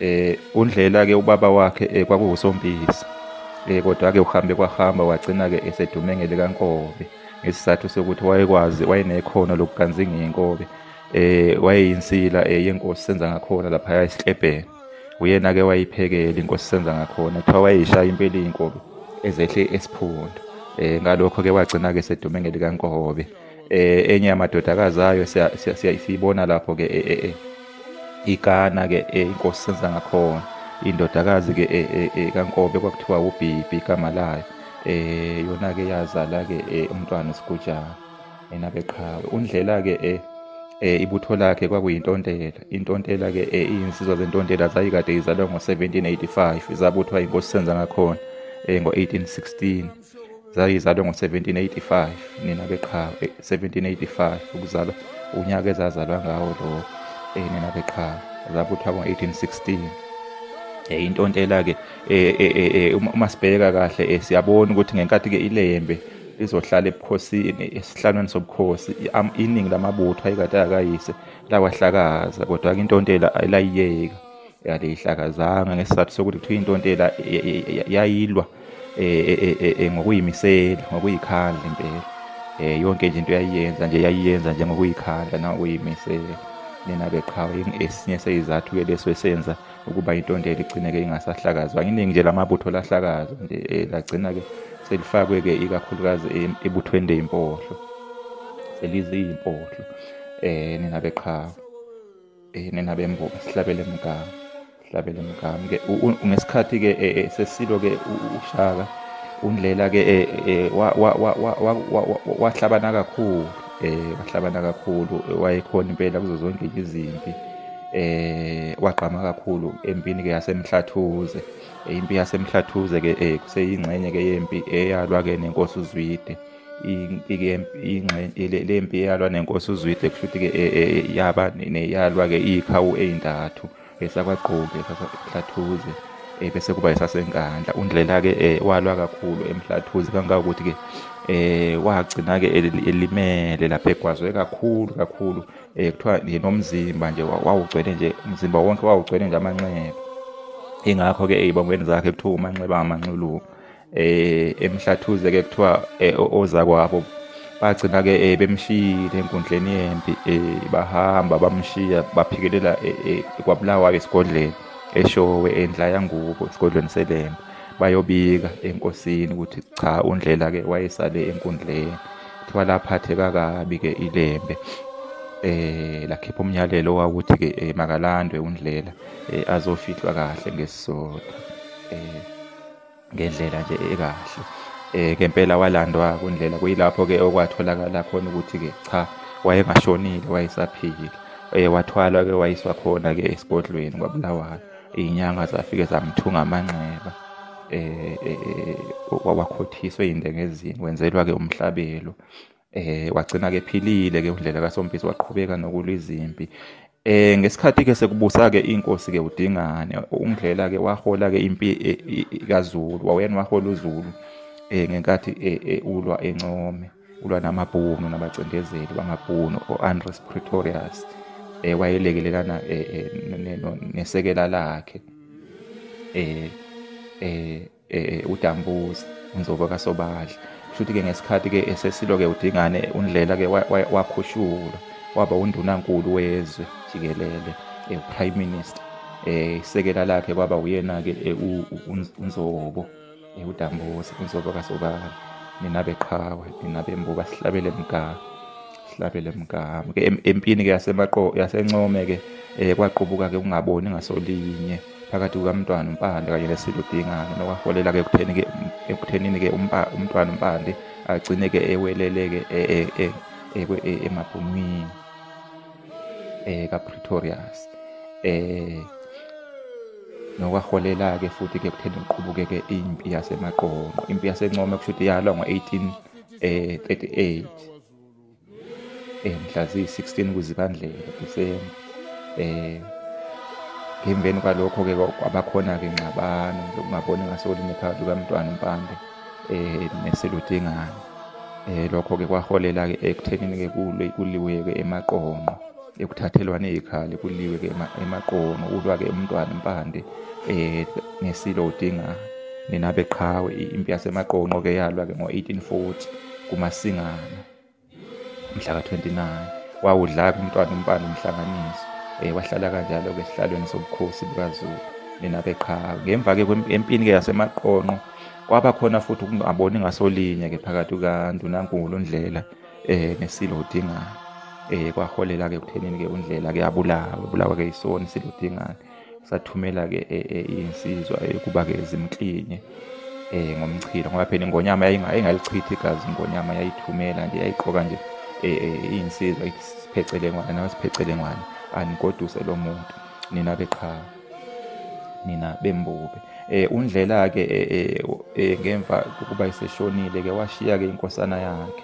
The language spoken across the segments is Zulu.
eh undlela ke ubaba wakhe eh, kwakuwusompisi eh kodwa ke uhambe kwahamba wagcina ke esedume ngelikankobe ngesizathu sokuthi wayekwazi wayenekhono lokuganzinga inkobe eh wayeyinsila eh, yenkosi senza ngakhona lapha esiklebheni uyena ke wayiphekela inkosi senza ngakhona kuthiwa wayishaya impela inkobe ezehle esiphundu eh ngalokho ke wagcina ke sedume ngelikankobe eh enye yamadodakazi ayo siyibona lapho ke eh, eh, eh. igana ke eh, inkosi senza ngakhona indodakazi ke eh, eh, eh, kankobe kwakuthiwa ubhibhi igama layo eh yona ke yazala ke eh, umntwana usigujana yena ke qha undlela ke eh eh ibutho lakhe kwakuyintontela intontela ke eh, iyinsizwa zentontela zayikade izalwa ngo-1785 zabuthwa inkosi senza ngakhona eh, ngo-1816 zayizalwe ngo-1785 nina beqhawe 1785 eh, ukuzalwa unyaka ezazalwa ngawo lo eh, nina beqhawe zabuthwa ngo-1816 eh, intontela-ke uma sibheka kahle siyabona ukuthi ngenkathi-ke ilembe lizohlala ebukhosini esihlalweni sobukhosi iningi lamabutho ayekade akayise lawahlakaza kodwa-ke intontela ayilayiyeka yalihlakazanga ngesizathu sokuthi kuthiwa intontela yayilwa um ngokuyimisela ngokuyikhandla impela um yonke nje into yayiyenza nje yayiyenza nje ngokuyikhandla nangokuyimisela nina beqhawe esinye seyizathu-ke leso esenza ukuba intontela igcine-ke ingasahlakazwa iningi nje lamabutho lahlakazwa nje um lagcina-ke selifakwe-ke ikakhulukazi ebuthweni leyimpohlo seliziyimpohlo um nina beqhawe eh, nina bemboka sihlabele mgama sihlabele mgama ke ngesikhathi ke eh, eh, sesilo ke ushaka undlela ke wahlabana kakhulu eh wahlabana kakhulu wayekhona impela kuzo zonke izimpi eh wagqama kakhulu empini ke yasemhlathuze impi yasemhlathuze ke kuseyingxenye ke yempi eyalwa ke nenkosi uzwide le mpi eyalwa nenkosi uzwide kusho ukuthi-ke e, e, e, yaba neyalwa-ke iyikhawu ey'ntathu esakwagqoki esasahlathuze um bese kuba esasenkandla undlela-ke um walwa kakhulu emhlathuze kangangokuthi-ke um wagcina-ke elimele lapho egwazwe kakhulu kakhulu um kuthiwa nomzimba nje wawugcwele nje umzimba wonke wawugcwele nje amanxeba ingakho-ke ey'bongweni zakhe kuthiwa umanxeba amanxuluku eh emhlathuze ke kuthiwa eh, ozakwabo bagcina ke eh, bemshiyile enkundleni yempi eh, bahamba bamshiya baphikelela kwabulawayo esigodleni eshowe endla yangubo esigodlweni selembe bayobika enkosini ukuthi cha undlela ke wayesale enkundleni kuthiwa laphatheka kabi ke ilembe eh lakhipha umyalelo owawuthi ke eh, makalandwe undlela eh, azofihlwa kahle ngesizotha eh ngendlela nje ekahle eh ngempela walandwa kundlela kuyilapho ke okwatholakala khona ukuthi ke cha wayengashonile wayesaphila eh wathwalwa ke wayiswa khona ke esigodlweni kwabulawayo izinyanga zafike zamthunga amanxeba eh, eh, eh wakhothiswe indengezini wenzelwa ke umhlabelo eh wagcina ke philile ke undlela kaSompisi waqhubeka nokulwa izimpi eh ngesikhathi ke sekubusa ke inkosi ke udingane ungidlela ke wahola ke impi e, kaZulu wawena wahola uZulu eh ngenkathi e, e, ulwa encome ulwa namabhunu nabacindezeli bamabhunu oAndres Pretorius eh wayelekelelana nesekela lakhe eh eh eh udambuza unzobo kasobadla futhi ke ngesikhathi ke esesilo ke udingane undlela ke wakhushulwa waba undunankulu wezwe jikelele eh, prime minister eh isekela lakhe kwaba uyena ke eh, unzobo eh, udambuza unzobo kasobala nina beqhawe nina bembuka sihlabele mgama sihlabele mgama ke empini ke yasemaqo yasencome ke kwaqubuka ke ungaboni ngasolinye phakathi kukamntwana umpande kanye nesilo dingane nokwaholela-ke ekuthenini-ke umntwana umpande agcine-ke ewelele-ke e, e, e, emabhumwini um kapretorius um nokwaholela-ke futhi-ke kutheni kuqhubukeke impi yasemaqonqo impi yasencome kusho ukuthi yalwa ngo-18 um 38 eh, mhla ziyi-16 kuzibandlela December eh ngemveni kwalokho ke kwabakhona ke ngxabano lokungaboni ngasolinye phakathi kukamntwana uMpande eh neseludingana eh lokho ke kwaholela ke ekuthenini ke kulwe kuliwe ke emaqonqo ekuthathelwane ikhali kuliwe ke emaqonqo ulwa ke umntwana uMpande eh nesilo udingana nina beqhawe impi yasemaqonqo ke yalwa ke ngo-1840 kuMasingana mhla ka-29 wawudlaka umntwana umpande umhlanganiso um wahlala kanjalo-ke esihlalweni sobukhosi bukazulu nina beqhawe ngemva-ke empini-ke yasemaqonqo kwaba khona futhi ukungaboni ngasolinye-ke phakathi kukandunankulu undlela um nesilo udingane um kwaholela-ke ekuthenini-ke undlela-ke abulawe bulawa-ke yisona isilo udingane sathumela-ke e, e, insizwa yokuba-ke zimklinye um ngomchilo ngoba phela ingonyama yayingalichithi igazi ingonyama yayithumela nje yayiqoka nje e, iyinsizwa ithi siphecelengwane nawe siphecelengwane anigoduse lo muntu nina beqhawe nina bembube eh undlela ke eh, eh, eh, ngemva kokuba iseshonile ke washiya ke inkosana yakhe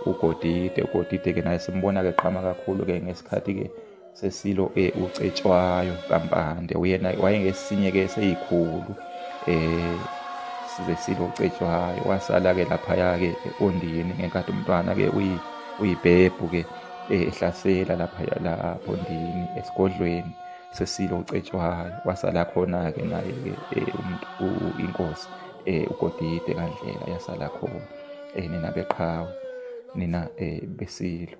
uGodide uGodide ke naye simbona ke qhama kakhulu ke ngesikhathi ke sesilo um eh, ucetshwayo kampande uyena wayengesinye-ke seyikhulu um sesilo ucetshwayo wasala-ke laphaya-ke ondini ngenkathi umntwana-ke uyibhebhu-ke eh, ehlasela laphaya lapho ndini esigodlweni sesilo ucetshwayo wasala khona-ke naye-ke um inkosi um ugodide kandlela yasala khona um nina beqhawe nina um besilo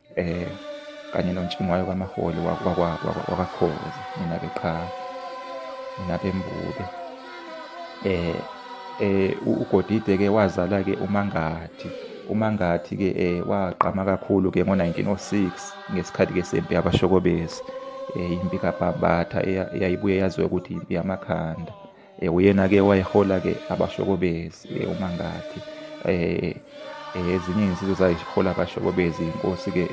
eh kanye nontshingwayo kamaholi wakakhozi mina ke qha mina ke mbube eh eh ugodide ke wazala ke umangathi umangathi ke eh waqama kakhulu ke ngo1906 ngesikhathi ke sempi yabashokobezi eh impi kabhambatha eyayibuye yaziwe ukuthi impi yamakhanda Eh, uyena-ke wayehola-ke abashokobezi eh, umangathi eh, um ezinye izinsizwa zayihola abashokobezi inkosi-ke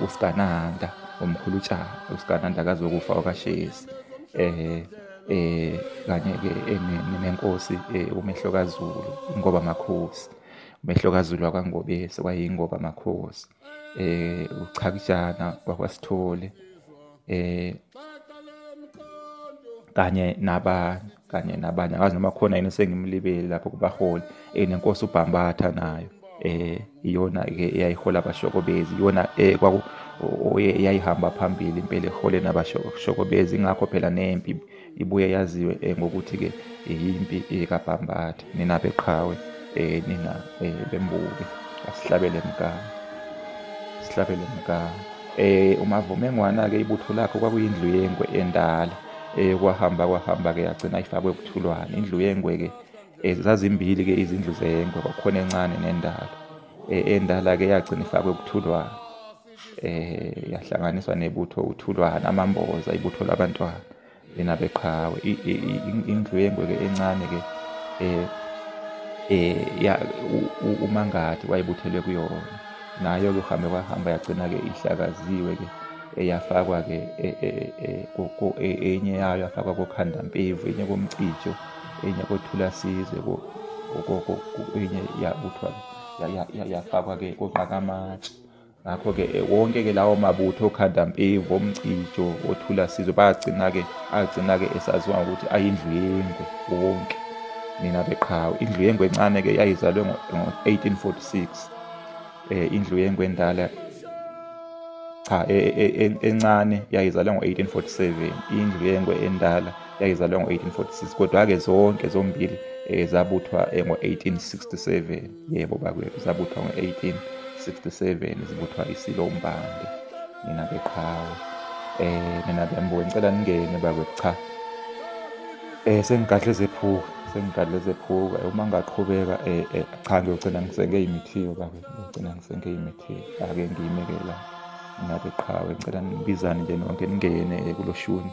usikananda umkhulu utshaba usikananda kazokufa okashezi um um kanye-ke nenkosi umehlo kazulu ingoba makhosi umehlo kazulu wakwangobese wayeyingoba makhosi eh uchakijana kwakwasithole eh kanye nabanye kanye nabanye akazi noma khona yini sengimlibeli lapho kubaholi eh nenkosi ubhambatha nayo eh iyona ke eyayihola abashokobezi iyona eh kwaku oyeyayihamba phambili impela ehole nabashokobezi ingakho phela nempi ibuye yaziwe eh, ngokuthi-ke yimpi kabhambathe nina beqhawe um nina um bembuke asihlabele mgama sihlabele mgama um umavumengwana-ke ibutho lakho kwakuyindlu yengwe endala um kwahamba kwahamba-ke yagcina ifakwe kuthulwane indlu yengwe-ke um zazimbili-ke izindlu zengwe kwakhona encane nendala um endala-ke yagcina ifakwe kuthulwane eh yahlanganiswa nebutho uthulwana amamboza ibutho labantwana lena beqhawe indlu yengweke encane ke eh eh ya umangathi wayebuthelwe kuyona nayo ke uhambe kwahamba yagcina ke ihlakaziwe ke eyafakwa ke e, e, e, enye yayo yafakwa kokhanda mpevu enye komcijo enye kothula sizwe enye yabuthwa yafakwa ke koqakamatshe ngakho-ke eh, wonke-ke lawo mabutho okhandampevu omcijo othula sizwe bagcina-ke agcina-ke esaziwa ngokuthi ayindlu yengwe wonke nina beqhawe indlu yengwe encane-ke yayizalwe ngo-1846 um eh, indlu yengwe endala cha e, e, e, encane yayizalwe ngo-1847 indlu yengwe endala yayizalwe ngo-1846 kodwa-ke zonke zombili um zabuthwa ngo-1867 yebo bakwethu zabuthwa ngo-1867 zibuthwa isilo umbande nina beqhawe um nina bembuke ngicela ningene bakwethu cha um sengigadle zephuka sengigadle zephuka uma ngaqhubeka um cha ngiyogcina ngisenge imithiyo bakwethu ngiyogcina ngisenge imithiyo ake ngiyimekela nina beqhawe ngicela nibizane nje nonke ningene kulo shuni